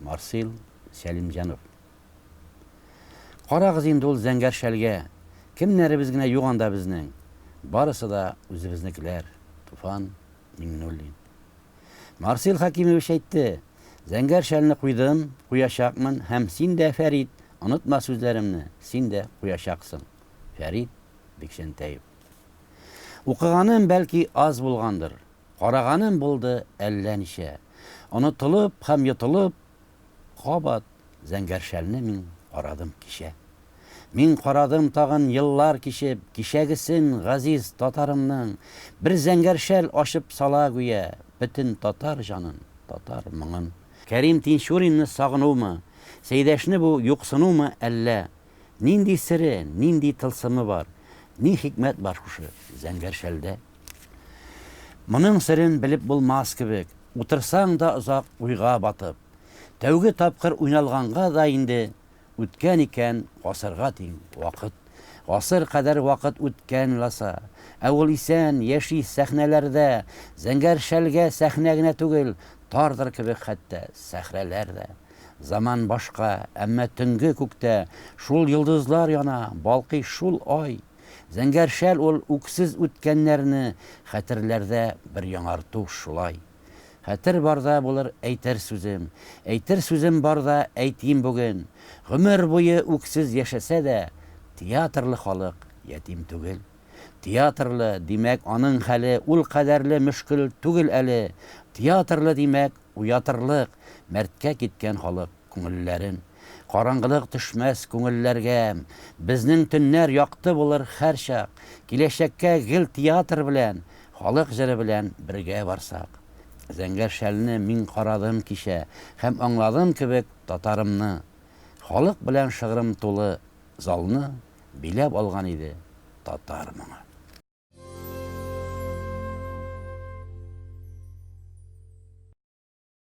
Марсил Сәлимҗанов. Карагыз инде ул зәңгәр шәлгә, Кемнәребез генә юк анда безнең, Барысы да үзебезнекеләр, Туфан Миңнуллин. Марсил Хәкимович әйтте, Зәңгәр шәлне куйдым, куячакмын һәм син дә, Фәрит, онытма сүзләремне, син дә куячаксың. Фәрит Бикчәнтәев. Укыганым, бәлки, аз булгандыр, Караганым булды әллә ничә. Онытылып һәм йотылып, кабат зәңгәр шәлне мин карадым кичә. Мин карадым тагын еллар кичеп, кичәгесен газиз татарымның, бер зәңгәр шәл ачып сала гүя, бөтен татар җанын, татар моңын. Кәрим Тинчуринны сагынумы, Сәйдәшне бу юксынумы әллә, нинди сере, нинди тылсымы бар, ни хикмәт бар шушы зәңгәр шәлдә? Моның серен белеп булмас кебек, утырсаң да озак уйга батып. Тәүге тапкыр уйналганга да инде үткән икән гасырга тиң вакыт. Гасыр кадәр вакыт үткән ласа. Ә ул исән, яши сәхнәләрдә. Зәңгәр шәлгә сәхнә генә түгел, тардыр кебек хәтта сәхрәләр дә. Заман башка, әмма төнге күктә шул йолдызлар яна, балкый шул ай. Зәңгәр шәл ул үксез үткәннәрне хәтерләрдә бер яңарту шулай. Хәтер барда булыр әйтер сүзем, әйтер сүзем барда әйтим бүген, гомер буе үксез яшәсә дә, театрлы халык ятим түгел. Театрлы, димәк, аның хәле ул кадәрле мөшкел түгел әле, театрлы, димәк, уятырлык, мәрткә киткән халык. Күңелләрем. Караңгылык төшмәс күңелләргә, Безнең төннәр якты булыр һәрчак, Киләчәккә гел театр белән, Халык җыры белән бергә барсак. Зәңгәр шәлне мин карадым кичә, Һәм аңладым кебек татарымны. Халык белән шыгрым тулы залны Биләп алган иде татар моңы.